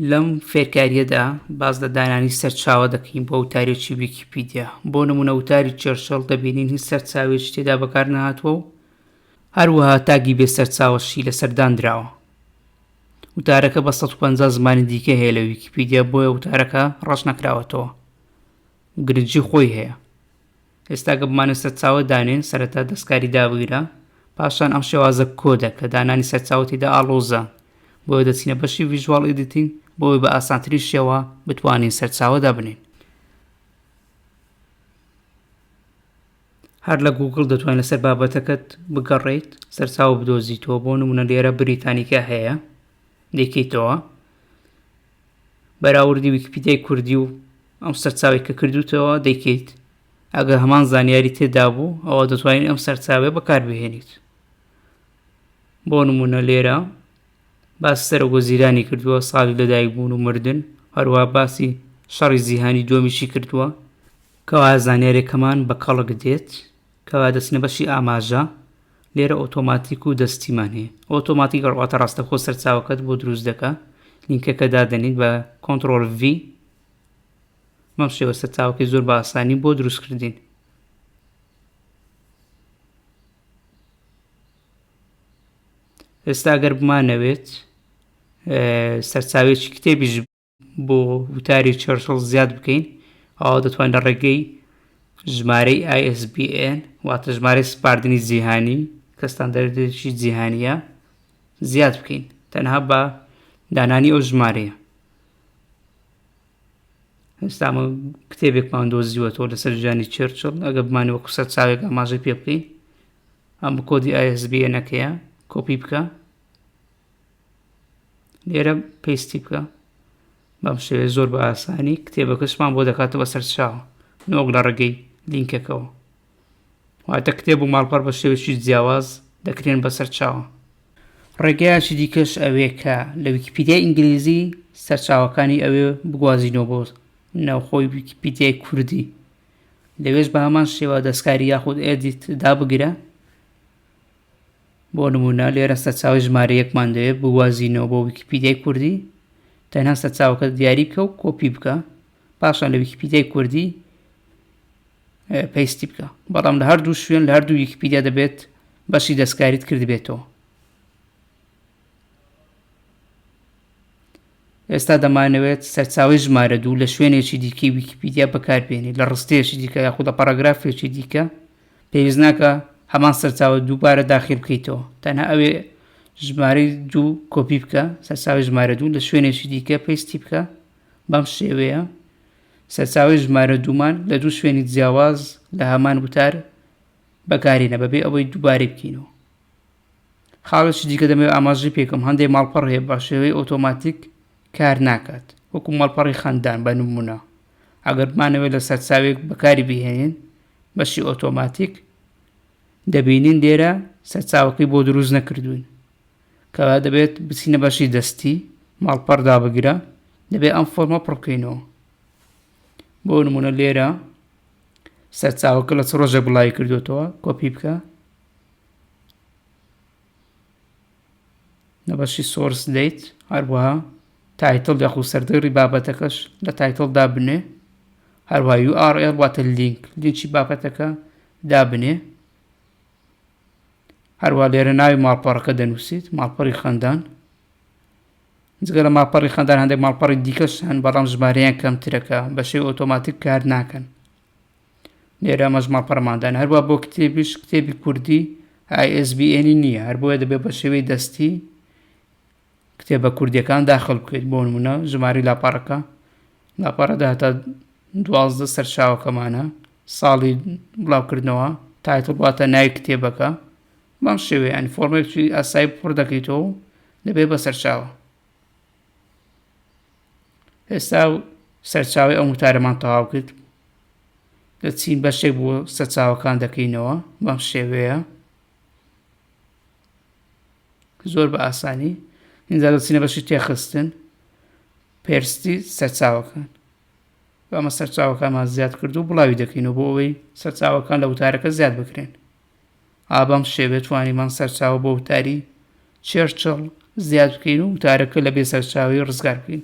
لەم فێرکاریەدا باز لە دانانی سەرچاوە دەکەین بۆ وتارێکی ویکیپیدیا بۆ نمونە وتاری چێرشەڵ دەبینین هیچ سەرچاوێک تێدا بەکار نهاتوە و هەروەها تاگی بێ سەرچاوەشی لە سەرداندراوە وتارەکە بە 150 زمانی دیکە هەیە لە ویکیپیدیا بۆیە وتارەکە ڕەش نەکراوەتەوە گرنجی خۆی هەیە ئێستا گە بمانە سەرچاوە دانێن سەرەتا دەستکاری دابگرە پاشان ئەم شێوازە کۆدە کە دانانی سەرچاوتیدا ئاڵۆزە بۆیە دەچینە بەشی ویژوال ئیدیتین بۆی بە ئاسانترین شێوە بتوانین سەرچاوەدا بنین هەر لە گوگل دەتوان لەسەر بابەتەکەت بگەڕیت سەرچاو بدۆزیتەوە بۆ نمونە لێرە بریتانیکە هەیە دەکەیتەوە بەراوردی ویکیپیدیای کوردی و ئەم سەرچاوەی کە کردوتەوە دەیکەیت ئەگە هەمان زانیاری تێدابوو ئەوە دەتوانین ئەم سەرچاوێ بەکاربهێنیت بۆ نمونە لێرە باس سەرۆک وەزیرانی کردووە ساڵی لەدایک بوون و مردن هەروە باسی شەڕی زیهانی دومیشی کردووە کەوا زانیارێکەمان بە کەڵک دێت کەوایە دەچینە بەشی ئاماژە، لێرە ئۆتۆماتیک و دەستیمان هەیە. ئۆتۆماتیک واتە ڕاستەوخۆ سەرچاوەکەت بۆ دروست دەکا. لینکەکە دادەنیت بە کۆنترۆل V. بەم شێوە سەرچاوەکەی زۆر بە ئاسانی بۆ دروست کردین. ئێستا گەر بمانەوێت سەرچاوێکی کتێبیش بۆ وتاری چەرچڵ زیاد بکەین ئەوا دەتوانین لە ڕێگەی ژمارەی ISBN واتە ژمارەی سپاردنی جیهانی کە ستاندەرێکی جیهانیە زیاد بکەین تەنها بە دانانی ئەو ژمارەیە ئێستامە کتێبێکمان دۆزیوەەوە لەسەر ژانی چرچڵ ئەگە بمانی وەکو سەر چاوێک ئاماژەی پێ بکەین ئەم کۆدی ISBN نەکەیە کۆپی بکە لێرە پێستی بکە بەم شێوێ زۆر بە ئاسانی کتێبەکەشمان بۆ دەکاتەوە سەر چاوە نۆک لە ڕێگەی لینکەکەەوە واتە کتێب و ماڵپەر بە شێوێکی جیاواز دەکرێن بەسەر چاوە ڕێگەیاکی دیکەش ئەوێ کە لە ویکیپیدیای ئینگلیزی سەرچاوەکانی ئەوێ بگوازینەوە بۆ ناوخۆی ویکیپیدیای کوردی لەوێش بە هەمان شێوە دەستکاری یاخود ئێدیت دابگرە بۆ نموونە لێرە سەرچاوەی ژمارە یەکمان دەوێت بوازینەوە بۆ ویکیپیدیای کوردی تەنها سەرچاوەکە دیاری بکە و کۆپی بکە پاشان لە ویکیپیدیای کوردی پەیستی بکە بەڵام لە هەردوو شوێن لە هەردوو ویکیپیدیا دەبێت بەشی دەستکاریت کردبێتەوە ئێستا دەمانەوێت سەرچاوەی ژمارە دوو لە شوێنێکی دیکەی ویکیپیدیا بەکاربێنی لە ڕستەیەکی دیکە یاخود لە پاراگرافێکی دیکە پێویست ناکە هەمان سەرچاوە دووبارە داخل بکەیتەوە تەنها ئەوێ ژمارەی دوو کۆپی بکە سەرچاوی ژمارە دوو لە شوێنێکی دیکە پێستی بکە بەم شێوەیە سەرچاوی ژمارە دوومان لە دوو شوێنی جیاواز لە هەمان وتار بەکارینە بەبێ ئەوەی دووبارەی بکەینەوە خاڵێکی دیکە دەمەوێت ئاماژەی پێکەم هەندێک ماڵپەڕ هەیە بە شێوەی ئۆتۆماتیک کار ناکات وەکو ماڵپەڕی خەندان بە نمونە ئەگەر بمانەوێت لە سەرچاوێک بەکاری بهێنین بەشی ئۆتۆماتیک دەبینین لێرە سەرچاوەکەی بۆ دروست نەکردوین کەوا دەبێت بچینە بەشی دەستی ماڵپەڕدا بگرە دەبێت ئەم فۆرمە پڕکەینەوە بۆ نمونە لێرە سەرچاوەکە لە چ ڕۆژێک بڵاوی کردوێتەوە کۆپی بکە لە بەشی سۆرس دیت هەروەها تایتڵ یاخو سەردێڕی بابەتەکەش لە تایتڵ دابنێ هەروە URL واتە لینک لینکی بابەتەکە دابنێ هەروە لێرە ناوی ماڵپەڕەکە دەنووسیت ماڵپەڕی خەندان جگە لە ماڵپەڕی خەندان هەندێک ماڵپەڕی دیکەش هەن بەڵام ژمارەیان کەمترەکە بەشێ ئۆتۆماتیک کار ناکەن لێرە مەزما پەرماندان هەروە بۆ کتێبیش کتێبی کوردی ئایSBNی نییە هەر بۆیە دەبێت بە شێوەی دەستی کتێبە کوردیەکان داخل بکەیت بۆ نمونە ژماری لاپەڕەکە لاپەڕەدا هەتا دوازدە سەرچاوەکەمانە ساڵی بڵاوکردنەوە تایتڵ واتە ناوی کتێبەکە بەم شێوەیان فۆرمێکی ئاسایی پڕ دەکەیتەوە دەبێت بە سەرچاوە ئێستا و سەرچاوی ئەم وتارەمان تەواو کرد دەچین بەشێک بۆ سەرچاوەکان دەکەینەوە بەم شێوەیە زۆر بە ئاسانی اینجا دەچینە بەشی تێخستن پێرستی سەرچاوەکان بەمە سەرچاوەکانمان زیاد کردو بڵاوی دەکەینەوە بۆ ئەوەی سەرچاوەکان لە وتارەکە زیاد بکرێن ئا بەم شێوە توانیمان سەرچاوە بۆ وتاری چێرچڵ زیاد بکەین و وتارەکە لە بێسەرچاوی ڕزگار بکەین